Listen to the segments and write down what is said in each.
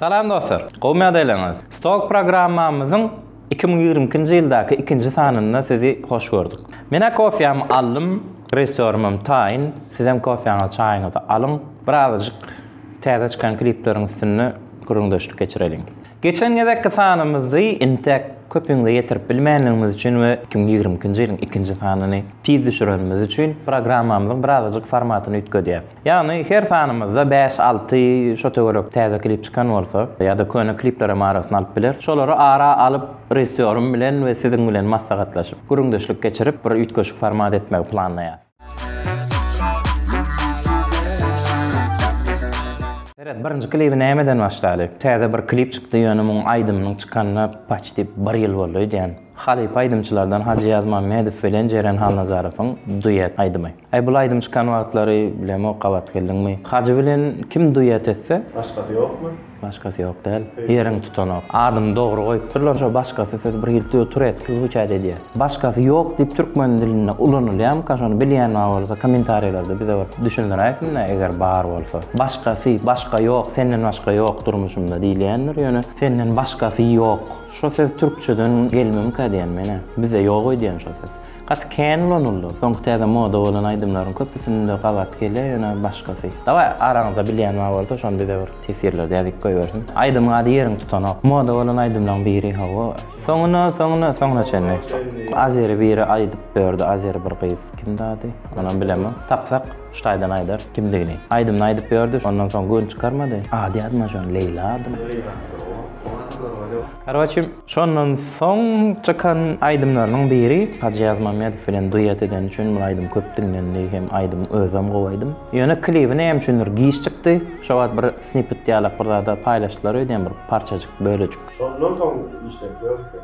Salam dostlar! Gowymy ýagdaýlaryňyz? Stalk programmamyzyň iki müň ýigrimi ikinji ýyldaky ikinji sanynda sizi hoş gördük. Men-ä kofýamy aldym, režissýorymam taýyn. Sizem kofýaňyzy, çaýyňyzy alyň. Birazajyk täze çykan klipleriň üstünde gürrüňdeşlik geçireliň. Geçen gezekki sanymyzy intäk köpüňize ýetirip bilmänligimiz üçin we iki müň ýigrimi ikinji ýylyň ikinji sanyny tiz düşürenimiz üçin programmamyzyň birazajyk formatyny üýtgedýäs. Ýagny her sanymyzda bäş-alty şo töwerek täze klip çykan bolsa, ýa-da köne kliplerem arasyna alyp bileris. Şolary ara alyp, režissýorym bilen we siziň bilen maslahatlaşyp, gürrüňdeşlik geçirip, bir üýtgeşik format etmegi planlaýarys. Seret, birinji klibi nämeden başlaly? Täze bir klip çykdy, ýöne muň aýdymynyň çykanyna paçti bir ýyl boldy öýdýän. Halypa aýdymçylardan Hajy Ýazmammedow bilen Jeren Halnazarowyň duet aýdymy. Äý bul aýdym çykan wagtlary bilemok gabat geldiňmi. Hajy bilen kim duet etse. Başgasy ýokmy? Başgasy ýok däl. Ýeriňi tutanok. Adyny dogry goýupdyrlar şo başgasy söz bir hilti turetski zwuçat edýä. Başgasy ýok diýip türkmen dilinde ulanylýamyka şony bilýän bar bolsa komentarýalarda bize bir düşündiräýsinda eger bar bolsa. Başgasy, başga ýok, senden başga ýok durmuşymda diýilýändir ýöne senden başgasy ýok. Şo söz türkçeden gelmemika diýen menä. Bizde ýok öýdýän şo söz. Gaty kän ulanyldy. Soňky täze moda bolan aýdymlaryň köpüsinde gabat gelýär ýöne başgasy. Dawaý araňyzda bilýän bar bolsa şony bize bir teswirlerde ýazyp goýbersin. Aýdymyň ady ýeriňi tutanok. Moda bolan aýdymlaň biri hawa. Soňuna soňuna soňuna çenli. Azeri biri aýdyp berdi azeri bir gyz kimdi ady onam bilemok tapsak şu taýdan aýdar kimdigini aýdymyny aýdyp berdi ondan soň gön çykarmady ady ýadyma şony Leýla adymy. Karoçi, şondan soň çykan aýdymlarynyň biri Hajyýaz Mamedow bilen duet edeni üçin bu aýdym köp diňlendi hem aýdymyň özem gowy aýdym. Ýöne klibi näme üçindir giç çykdy. Şo wagt bir snippet ýalak bir zada paýlaşdylar öýdýän bir parçajyk bölejik. Şondan soň işleri dörtdi.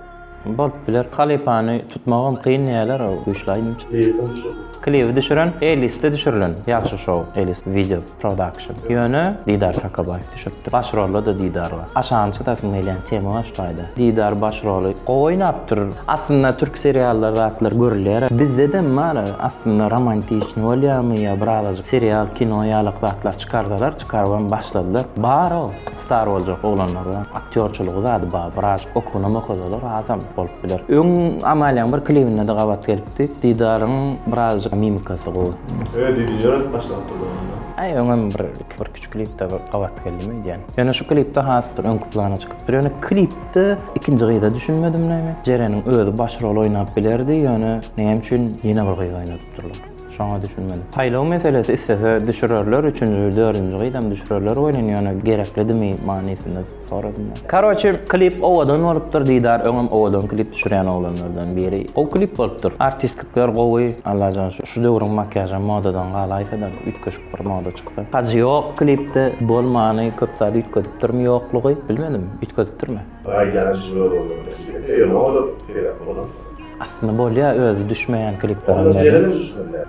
Bolup biler. Halypany tutmagam kyn diýýäler, o güýçli aýdymçy. Klibi düşüren. Klibi düşüren Elisde düşürilen. Ýagşy şou, Elis wideo. Production. Ýöne Didar Çakabaýew düşüpdir. Baş rolda-da Didar bar. Aşagyny çytasym gelýän tema baş taýda. Didar baş roly gowy oýnapdyr. Aslynda türk seriallar zatlar görülýär. Bizdedem bar aslynda romantiçny bolýamy ýa birazajyk serial kino ýalak zatlar çykarsalar, çykarypam başladylar. Bar ol. Star boljak oglanlara aktýorçylygy zady bar biraz okunymy okasalar azam bolup biler. Öň Amaliýaň bir klibinde-de gabat gelipdi. Didaryň birazjyk mimikasy gowy. Öe didini ýöredip başlap durlar onda. Aý öňem bir bir kiçi klipde gabat geldim öýdýän. Ýöne şu klipde has bir öňki plana çykypdyr. Ýöne klipde ikinji gyza düşünmedim näme. Jereniň özi baş rol oýnap bilerdi ýöne näme üçin ýene bir gyz oýnadypdyrlar. Şoňa düşünmeli. Saýlaw meselesi islese düşürerler üçünji we dördünji gyzam düşürerler welin ýöne gereklidimi manysynda soradym men. Karoçi klip owadan bolupdyr Didar öňem owadan klip düşürýän oglanlardan biri. Gowy klip bolupdyr. Artistikler gowy. Allajan şu şu döwrüň makiýažam modadan galaýsada üýtgeşik bir moda çyksa. Hajy ýok klipde bolmany köp zat üýtgedipdirmi ýoklugy bilmedim üýtgedipdirmi. Gaýdany jüme boldy muny kim eder ýöne olar peýda bolansoň. Aslynda bolýa özi düşmeýän klipler hem bar.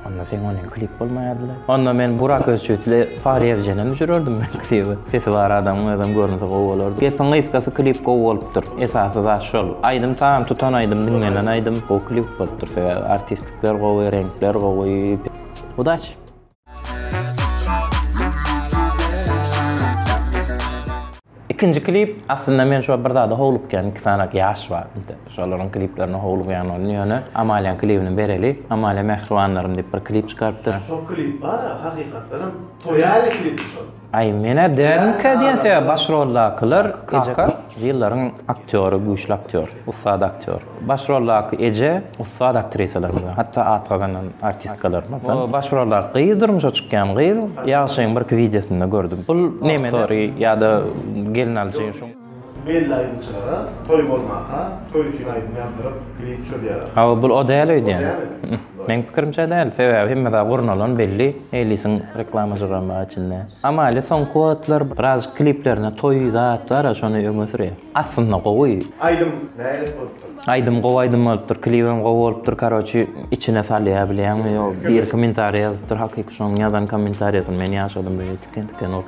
Onda seň onuň klip bolmaýardyla. Onda men Burak Özçywitli Fahriýe Evjene düşürerdim men klibi. Sesi bar adamyň özem görünse gowy bolardy. Gepiň gysgasy klip gowy bolupdyr. Esasy zat şol. Aýdym sazam tutan aýdym diňlenen aýdym gowy klip bolupdyr sebäbi artistlikler gowy reňkler gowy. Udaç. Ikinji klip, aslynda men şo bir zada howlukýan, iki sany ýaş bar bizde. Şolaryň kliplerine howlugýan ony ýöne Amaliýaň klibini bereli. Amaliýa Mähribanlarym diýip bir klip çykarypdyr. Şo klip bar-a, hakykatdanam toýaly klipdi şol. Aý menä dälmikä diýen sebäp baş roldakylar kaka ýyllaryň aktýory güýçli aktýor ussat aktýor baş roldaky eje ussat aktrisalar bilen hatda at gazanan artistkalar mysal baş roldaky gyz durmuşa çykýan gyz ýagşyň birki wideosynda gördüm bul neme story ýa-da gelnaljy Belli aýdymçylara toý bolmaka toý üçin aýdym ýazdyryp klip çözýärler. Hawa bul o däl öýdýän. Meň pikirimçe däl. Sebäbi hemme zat gurnalan belli. Neylisiň reklamajygam bar içinde. Amalia soňky wagtlar birazjyk kliplerinde toý zat bara şony öňe sürýär. Aslynda gowy. Aýdym nälet bolupdyr. Aýdym gowy aýdym bolupdyr klibem gowy bolupdyr karoçi içine salýa bilýäňmi ýo bir komentariýa ýazypdyr hakyky şoň ýazan komentariýasyny men ýaşadym beýle tiken tiken ol.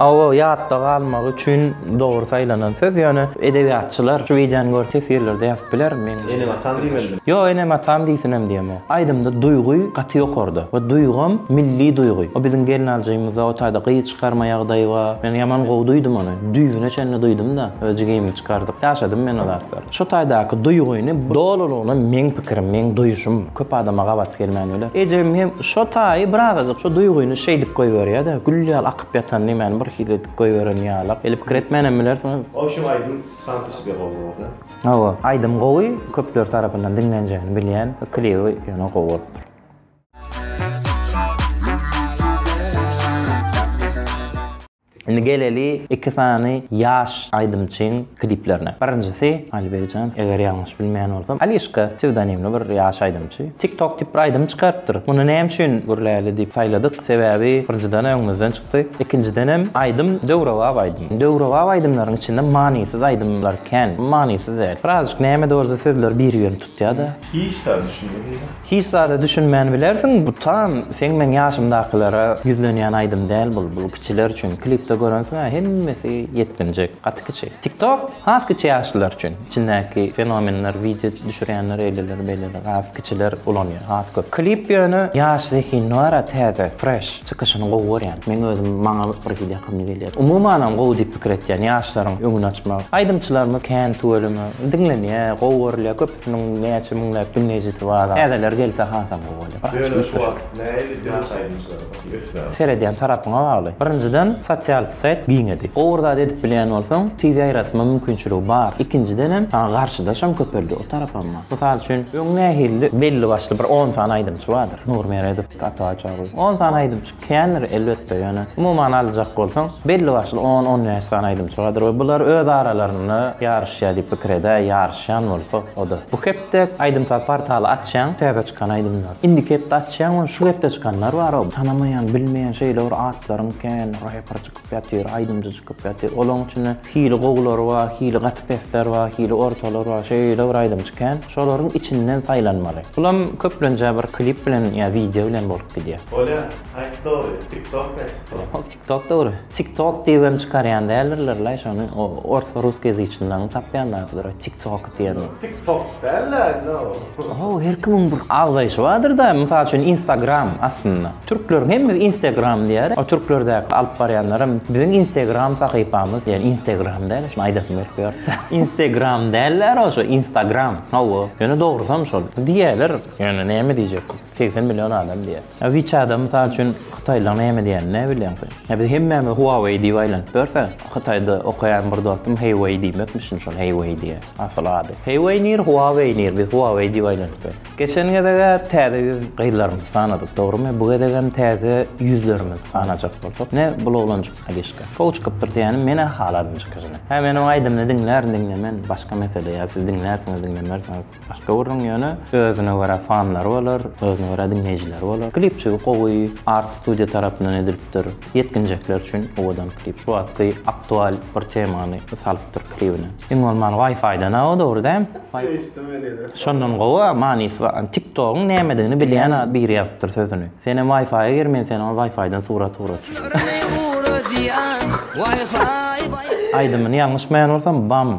Awa ýatda galmagy üçin dogry saýlanan söz ýöne edebiýatçylar şu wideony görüp teswirlerde ýazyp biler men Enem atam diýmelimi? Ýok enem atam diýsinem diýemok. Aýdymda duýgy gaty ýokarda we duýgam milli duýgy. O biziň gelnaljymyzda o taýda gyz çykarma ýagdaýy bar. Men ýaman gowy duýdum ony. Düýbüne çenli duýdum-da öz jigimi çykardyp. Ýaşadym men o zatlary. Şu taýdaky duýgyny dolulygyna meň pikirim, meň duýuşym, köp adama gabat gelmän biler. Ejem hem şo taýy bir azajyk şo duýgyny şeýdip goýberýä-de, gül ýaly akyp ýatan nemäni bir hili edip goýberen ýalak. Eli pikir etmän hem bilersiňiz. Ol şu aýdym Santos Begowyňyz-da? Hawa, aýdym gowy, köpler tarapyndan diňlenjegini bilýän, klibi ýöne gowy bolupdyr. Indi geleli iki sany ýaş aýdymçyň kliplerine. Birinjisi, Aliberkjan, eger ýalňyş bilmeýän bolsam, Alişka psewdonimli bir ýaş aýdymçy. TikTok diýip bir aýdym çykarypdyr. Muny näme üçin Gürläli diýip saýladyk? Sebäbi birinjiden öňümizden çykdy. Ikinjidenem aýdym döwrebap aýdym. Döwrebap aýdymlaryň içinde manysyz aýdymlar kän. Manysyz däl. Birazjyk näme-de bolsa sözleri biri-birini tutýar-da. Hiç zada düşünmedimda. Hiç zada düşünmän bilersiň bu tam seň meň ýaşymdakylara ýüzlenýän aýdym däl bul bul kiçiler üçin klipde görensiňä hemmesi ýetginjek gaty kiçi tiktok has kiçi ýaşlylar üçin içindäki fenomenler wideo düşürýänler eýleler beýleler has kiçiler ulanýar has köp klip ýöne ýaş zehin nara täze fresh çykyşyny gowy görýän meň özüm maňa bir hili ýakymly gelýär umumanam gowy diýip pikir etýän ýaşlaryň öňüni açmak aýdymçylarymyz kän tüweleme diňlenýär gowy görülýär köp. Şunuň näçe müňläp diňleýjisi bar. Täzeler gelse hasam gowy bolýar. Bir açyp üýtgeşik. Seredýän tarapyňa bagly. Birinjiden sosial saýt giňedi. Gowy bir zat edip bilýän bolsaň, tiz ýaýratma mümkinçiligi bar. Ikinjidenem saňa garşydaşam köpeldi o tarapamma. Mysal üçin, öň nähilidi? Belli başly bir on sany aýdymçy bardyr. Nur Meredow, Atabaý Çaryýew. On sany aýdymçy. Kändir, elbetde, ýöne umuman aljak bolsaň, belli-başly on-on bäş sany aýdymçygadyr we bular öz aralarynda ýaryşýar diýip pikir edäý, ýaryşýan bolsa, o-da. Bu hepde aýdym-saz portaly açýaň, täze çykan aýdymlar. Indiki hepde açýaň, ony şu hepde çykanlar bar, tanamaýan, bilmeýän şeýle bir atlaryň kän reper çykyp ýatyr, aýdymçy çykyp ýatyr. Olaryň içinde Hili gowulary bar, hili gaty pesler bar, hili ortalar bar, şeýle bir aýdymçy kän. Şolaryň içinden saýlanmaly. Bulam köplenje bir klip bilen ýa wideo bilen bolup gidýär. Bolýa, aýt dogry, TikTok ýa TikTok? Hop TikTok dogry. TikTok diýibem çykarýan däldirlerlaý şony, o orsa russoýazyçnylaryň tapýan zadydyr o TikTok. diýeni. Tik tok däl-de indi o. Ho, her kimiň bir agzaýşy bardyr-da, mysal üçin Instagram aslynda. Türkleriň hemmesi Instagram diýer. O türklerdäki alyp barýanlaram biziň Instagram sahypamyz diýen Instagram däl-de şuny aýdasym gelip ýördi. Instagram däl-de ro şu Instagram. Hawa. Ýöne dogrusam şol. Diýerler. Ýöne näme diýjekgin. Segsen million adam diýýär. Ýa WeChat-a mysal üçin hytaýlylar näme diýýänini näbilýäň sen? Ýa biz hemmämiz Huawei diýip aýlanyp ýörsek, Hytaýda okaýan bir dostum Heýwei diýmekmişin şol Heýwei diýe. Asyl ady. Heýwei nir, Huawei nir, biz Huawei diýip aýlanyp ýörüs. Geçen gezeg-ä täze ýüz gyzlarymyzy sanadyk, dogrymy? Bu gezegem täze ýüzlerimizi sanajak bolsak, ne bul oglanjyk Sadişka. Gowy çykypdyr diýýänim, men-ä haladym çykyşyny. Hä men oň aýdymyny diňlärin diňlemen, başga mesele, ýa siz diňlärsiňiz diňlemersiňiz. Başga biriniň ýöne özüne görä fanlary bolar, özüne görä diňleýjileri bolar. Klipçigi gowy, Art Studio tarapyndan edilipdir. Ýetginjekler üçin owadan klip. Şu wagtky aktual bir temany salypdyr klibine. Iň bolmany Wi-Fi-den-a o, dogry däl? Eşitdim men ýene. Şondan gowy, manysy bar. TikTok-yň nämedigini bilýän biri ýazypdyr sözüni. Senem Wi-Fi-a gir, men seniň Wi-Fi-den surat ugraçy. Aýdymyny ýalňyşmaýan bolsam, Bam.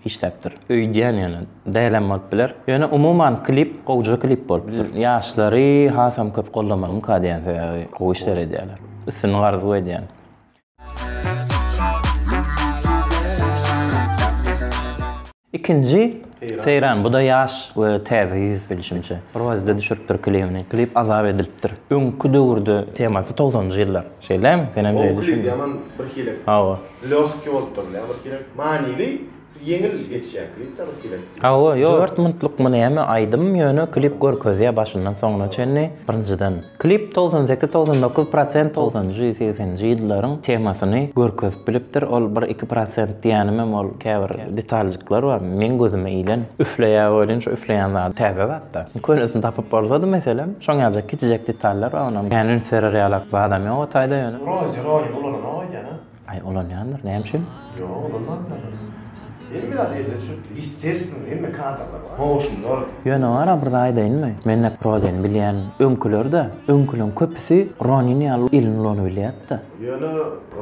işläpdir. Öýdýän ýöne, dälem bolup biler. Ýöne umuman klip gowja klip bolupdyr. Ýaşlary hasam köp gollamalymyka diýýän sebäbi gowy işler edýäler. Üstünlik arzuw edýän. Ikinji Seýran buda ýaş we täze ýüz bilşimçe. Rozi-de düşüripdir klibini. Klip azap edilipdir. Öňki döwürde temasy togsanjy ýyllar. Şeýlemi? Senem şeýle düşündiň. Ow, ýaman birhili. Hawa. Lehki bolup dur, ýa birhili manyly, ýeňil geçýär klip-de birhili. Hawa, ýok. Dört minutlyk-my näme aýdym, ýöne klip görkezýär başyndan soňuna çenli. Birinjiden, klip togsan sekiz, togsan dokuz prosent togsanjy, segseninji ýyllaryň temasyny görkezip bilipdir. Ol bir, iki prosent diýenimem ol käbir detaljyklar bar, meň gözüme ilen. Üfleýär welin, şu üfleýän zady täze zat. Bak, bu könesini tapyp bolsady meselem, şoň ýaljak kiçijek detallar bar onam. Kän üns berer ýalak zadam ýok o taýda ýöne. Rozi, Rozi ulananok aýdýan a? Aý ulanýandyr, näme üçin? Ýok, ulanmandyr ahyry. Indi biraz ýerine düşüpdi. Ýestestwno, hemme kadralar bar. Goşundylar. Ýöne bar a bir zat aýdaýynmy? Men näp Rozini bilýän, öňküler-de, öňküleň köpüsi Ronin ýaly elini ulanybilýärdi-da. Ýöne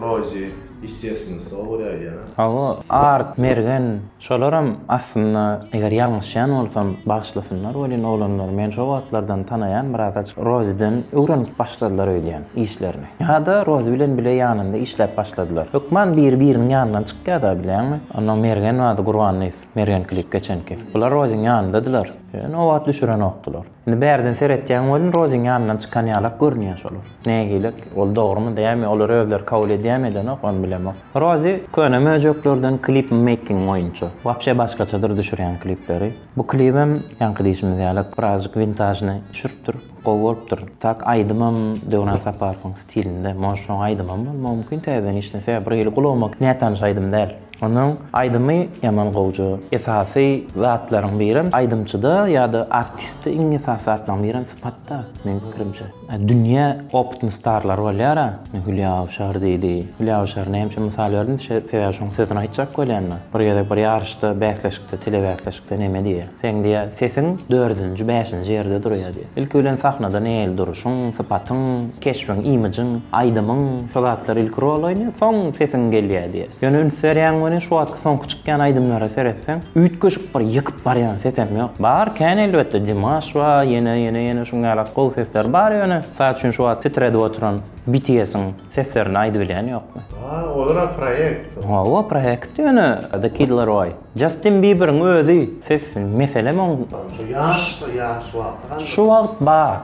Rozi, ýestestwno, sowa görä aýdýan a? Hawa, Art, Mergen. Şolaram aslynda eger ýalňyşýan bolsam bagyşlasynlar welin oglanlar men şo wagtlardan tanaýan biraz Roziden öwrenip başladylar öýdýän işlerini. Ýada Rozi bilen bile ýanynda işläp başladylar. Hökman biri biriniň ýanyndan çykýada bilýäňmi. Onda Mergen bardy Gurbanlyf Mergen klip geçenki. Bular Roziň ýanyndadylar. Ýöne o wagt düşürenokdylar. Indi bärden seretýän welin Roziň ýanyndan çykan ýalak görünýä şolar. Nägilek, ol dogrymy dämi, olar özleri kabul edýämi edenok, ony bilemok. Rozi köne möjeklerden klip making boýunça. Wapşe başgaçadyr düşürýän klipleri. Bu klibem ýaňky diýşimiz ýalak birazjyk wintažnyý düşüripdir. Gowy bolupdyr. Tak aýdymam Döwran Saparowyň Stilinde monşoň aýdymam bolmagy mumkin täzeden işlense ýa bir hili gulagma nätanyş aýdym däl. Onuň aýdymy ýaman gowja. Esasy zatlaryň birem aýdymçyda ýada artistde iň esasy zatlaryň birem sypatda meň pikirimçe. Dünýä opitny starlar bolýara indi Hülýa Awşar diýdi. Hülýa Awşary näme üçin mysal berdim sebäbi şoň sözüni aýtjak bolýanda bir gezek bir ýaryşda bäsleşikde telebäsleşikde neme diýýä. Seň diýä sesiň dördünji bäşinji ýerde durýa diýä. Ilki bilen sahnada neýeli duruşyň, sypatyň, keşbiň, imijyň, aýdymyň, şu zatlar ilki rol oýnaýa, soň sesiň gelýä diýä. Ýöne üns berýäň welin şu wagtky soňky çykýan aýdymlara seretseň, üýtgeşik bir ýykyp barýan sesem ýok. Bar kän elbetde Dimaş bar, ýene ýene ýene şuň ýalak gowy sesler bar ýöne mysal üçin şu wagt titredip oturan BTS-iň seslerini aýdybilýän ýokmy. Ha olara proýekt. Hawa proýekt ýöne The Kid Laroi. Jastin Biberiň özi sessiz meselem oň. Şu ýaş bir ýaş wagty galdy. Şu wagt bar.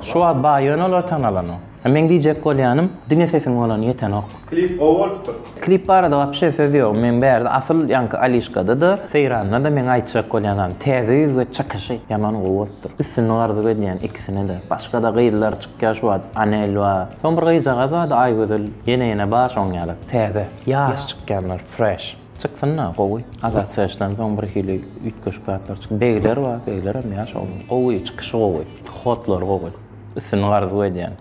Şu wagt bar ýöne olar tanalanok. Meň diýjek bolýanym diňe sesiň bolany ýetenok. Klip gowy bolupdyr. Klip barada wapşe söz ýok meň bärde asyl ýaňky Alişkada da Seýranda da meň aýtjak bolýan zam täze ýüz we çykyşy ýaman gowy bolupdyr üstünlik arzuw edýän ikisine de başga da gyzlar çykýa şu wagt Anel bar soň bir gyzjagaz bardy Aýgözel ýene ýene bar şoň ýaly täze ýaş çykýanlar fresh. Çyksynda gowy Azat Çeşdan soň bir hili üýtgeşik zatlar çyk Begler bar Beglerem ýaş oglan gowy çykyşy gowy hotlary gowy üstünlik arzuw edýän.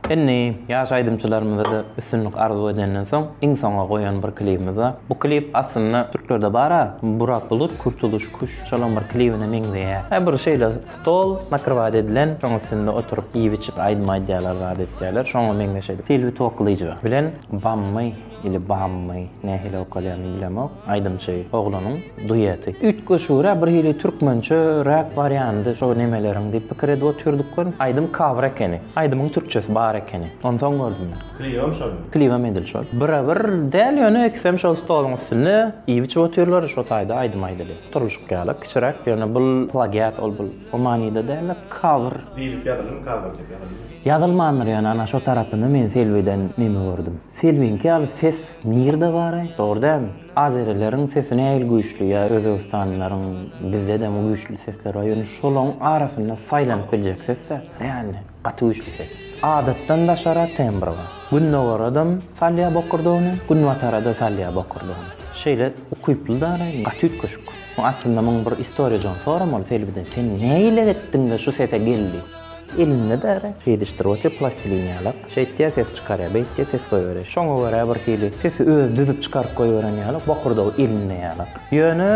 Indi ýaş aýdymçylarymyzada üstünlik arzuw edenden soň iň soňa goýan bir klibimiz bar. Bu klip aslynda türklerde bar-a Burak Bulut Kurtuluş Kuş şolam bir klibine meňzeýä. He bir şeýle Stol nakrywat edilen, şoň üstünde oturyp, iýip-içip, aýdym aýdýarlar, zat etýärler. Şoňa meňzeş edip, Silwi Toklija bilen Bammy ili Bammy, nähili okalýanyny bilemok, aýdymçy oglanyň dueti. Üýtgeşigirä, bir hili türkmençe, rap wariandy şo nemeleriň diýip pikir edip otyrdykkon, aýdym cover ekeni. Aýdymyň türkçesi bar ekeni. Onsoň gördüm men. Klibem şolmy? Klibem edil şol. Bire-bir däl, ýöne ikisem şol stoluň üstünde iýip-içip otyrlar, şo taýda aýdym aýdylýar. Turluşyk ýaly, kiçiräk, ýöne bul plagiat ol bul. O manyda däl-de, cover. Diýlip ýazylmy, cover diýip ýazylmy? Ýazylmandyr ýöne ana şo tarapyny men Selbiden neme gördüm. Selbiňki ýaly ses nirde baraý? Dogry dämi? Azerileriň sesi nähili güýçli ýa özbegistanlylaryň bizde dämi güýçli sesler bar ýöne şolaň arasynda saýlanyp biljek ses-dä. Reallny. Gaty güýçli ses. Adatdan daşara tembr bar. Gündogaradam salýa bokurdagyny, günbatarada salýa bokurdagyny. Şeýle ukyply dara, gaty üýtgeşik. Aslynda muň bir istoriýa jon soramaly Selbiden sen näileik etdiňde şu sese geldi. Elinde dara, şeýdişdir otýa plastilin ýalak. Şeýtýä ses çykarýa, beýtýä ses goýberýä. Şoňa görä bir hili sesi özi düzüp çykaryp goýberen ýalak, bokurdagy elinde ýalak. Ýöne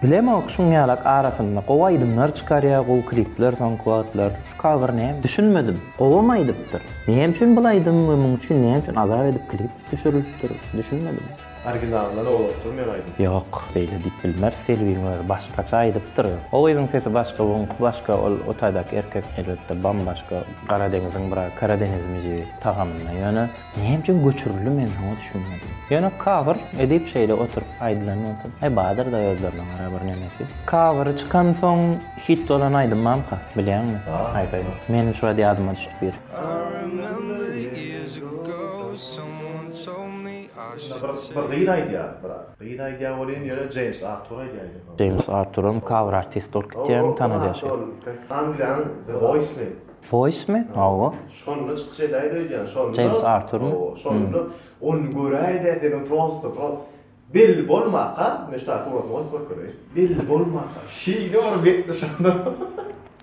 Bilemok şuň ýalak arasynda gowy aýdymlar çykarýa gowy klipler soňky wagtlar şu cover näme düşünmedim gowam aýdypdyr näme üçin bul aýdym we muň üçin näme üçin azap edip klip düşürilipdir düşünmedim. Originalyndan oňlapdyr men aýdym. Ýok beýle diýip bilmeris Selbiň özi başgaça aýdypdyr o gyzyň sesi başga buňky başga ol otaýdaky erkek elbetde bambaşga Gara deňiziň biraz Karadeňiz müziği tagamynda ýöne. Näme üçin göçürildi men şoňa düşünmedim. Ýöne kabyr edip şeýle oturyp aýdylan bolsa aý badyrda özlerine gara bir nemesi. Kabyry çykan soň hit bolan aýdymamka bilýäňmi? Haýp aýdyp. Meniň şuwagt ýadyma düşdi bir. Bir gyz aýdýar bir gyz aýdýar welin ýöne Jeýms Artur aýdýaýdy. Jeýms Arturam kabyr artist bolup gitýämi tanalýar şeýdip. Angliýanyň The Voice mi? Foýsmi? Hawa. Şonda çykyş edäýdi öýdýän. Şonda. Jeýms Arturmy? Hawa. Şonda ony göräýdä dedim prosta pro. Belli bolmaka, men şu taýda suratyny goýup görkezeýin. Belli bolmaka, şeýle bir betdi şonda.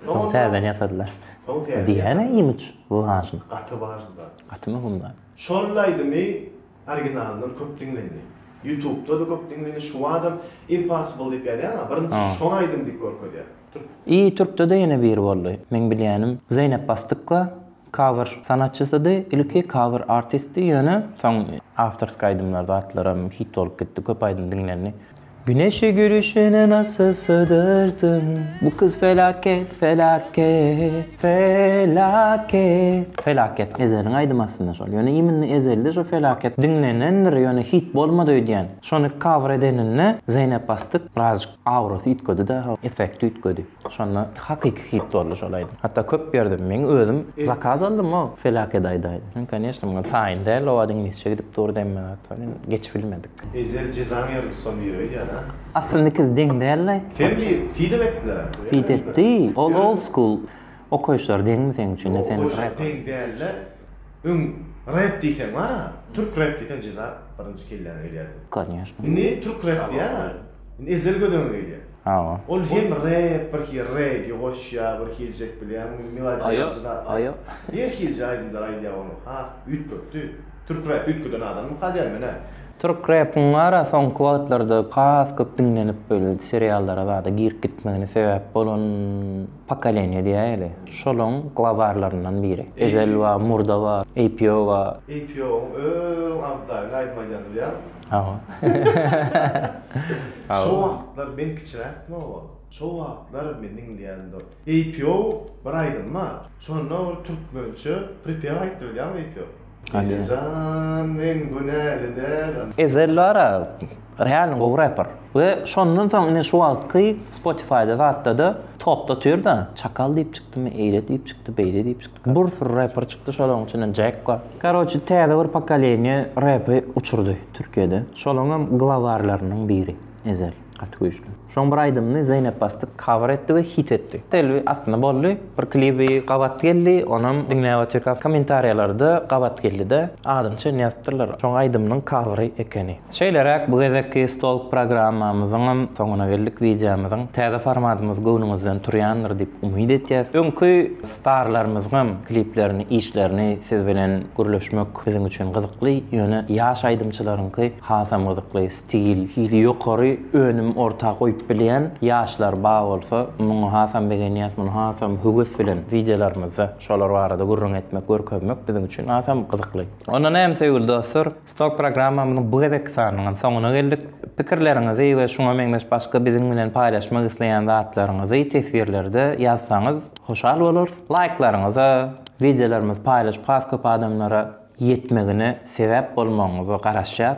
Soň täzeden ýasadylar. Soň täzeden. Diýýäne imidž wajn. Gaty wajn zat. Gaty möhüm zat. Şol aýdymy originalyndan köp diňlendi. Ýutubda-da köp diňlendi. Şu badam Impossible diýip ýazýaň-a, birinji şoň aýdym diýip görkezýär. I türkde-de ýene biri boldy. Meň bilýänim Zeýnep Basdykka cover sanatçysydy. Ilki cover artistdi, ýöne soň awtorskiý aýdymlar zatlaram hit bolup gitdi, köp aýdym diňlendi. Güneşi gülüşine nasıl sığdırdym Bu kız felaket felaket felaket Felaket Ezeliň aýdymy aslynda şol ýöne iminli Ezelde şo felaket diňlenendir ýöne hit bolmady öýdýän şony cover edenine Zeýnep Basdyk birazjyk Aurasy üýtgedi daha effekti üýtgedi. Şonda hakyky hit boldy şol aýdym. Hatda köp berdim. Meň özüm zakaz aldym-a felaket aýdaýdy. Soň koneşne muňa taýyn däl owazy iňlisçe gidip dur demme atlar ýöne geçip bilmedik. Eýse jizan ýeri tutan biri öýdýän a. Aslynda ikiz deň däldi. Sen bir fide etdiler a. Fide etdi. Ol old school. Okaýyşlar deňmi seň üçin ne sen rep. Deň dälde öň rep diýseň bara türk rep diýseň jeza birinji kelläňe gelýär. Konyýaşna. Indi türk rep diýýära indi ezel göz öňe gelýär. Hawa. Ol hem rep bir hili regi goşýar bir hiljek bilýäň melodiýa jyda. Aýo aýo. Her hilje aýdymlar aýdýar ony has üýtgetdi. Türk rep üýtgeden adammy kalýar men hä. Türk repiň bara soňky wagtlarda has köp diňlenip böyle seriallara zada girip gitmegine sebäp bolan. Pokoleniýa diýäýeli. Şolaň glowarlaryndan biri. Ezel bar, murda bar, APO bar. APO-nyň öň aldaýyny aýdym aýdýany bilýäňmi? Hawa. Şo wagtlar men kiçiräkdim hawa. Şo wagtlar men diňleýänimde APO bir aýdym bar. Şonda ol türkmençe pripew aýtdy bilýäňmi APO? Ejejan men günäli däl. Ezel bara realno gowy reper we şondan soň ine şu wagtky spotifyda zatdada topda otyrda çakal diýip çykdymy eýle diýip çykdy beýle diýip çykdy bir sürü reper çykdy şolaryň içinden jack bar karoçe täze bir pokoleniýe repi uçurdy türkiýede şolaryňam glowarlarynyň biri ezel gaty güýçli. Şoň bir aýdymyny Zeýnep Bastik cover etdi we hit etdi. Selbi aslynda boldy. Bir klibi gabat geldi, onam diňläp otyrka kommentariýalarda gabat geldi-de, adyny çenli ýazypdyrlar. Şoň aýdymynyň covery ekeni. Şeýleräk bu gezekki stolk programmamyzyňam soňuna geldik. Wideomyzyň täze formatymyz göwnüňizden turýandyr diýip umyt etýäs. Öňki starlarymyzyňam kliplerini, işlerini siz bilen gürleşmek biziň üçin gyzykly, ýöne ýaş aýdymçylaryňky hasam gyzykly. Sigil, hili ýokary önüm orta goýup bilýän ýaşlar bar bolsa, muňa hasam begenýäs, muny hasam höwes bilen wideolarymyzda şolar barada gürrüň etmek, görkezmek biziň üçin hasam gyzykly. Onda näme söýgüli dostlar, Stok programmamyzyň bu gezekki sanynyňam soňuna geldik. Pikirleriňizi we şuňa meňzeş başga biziň bilen paýlaşmak isleýän zatlaryňyzy teswirlerde ýazsaňyz hoşal bolarys. Laýklaryňyza, wideolarymyzy paýlaşyp has köp adamlara ýetmegine sebäp bolmagyňyza garaşýas.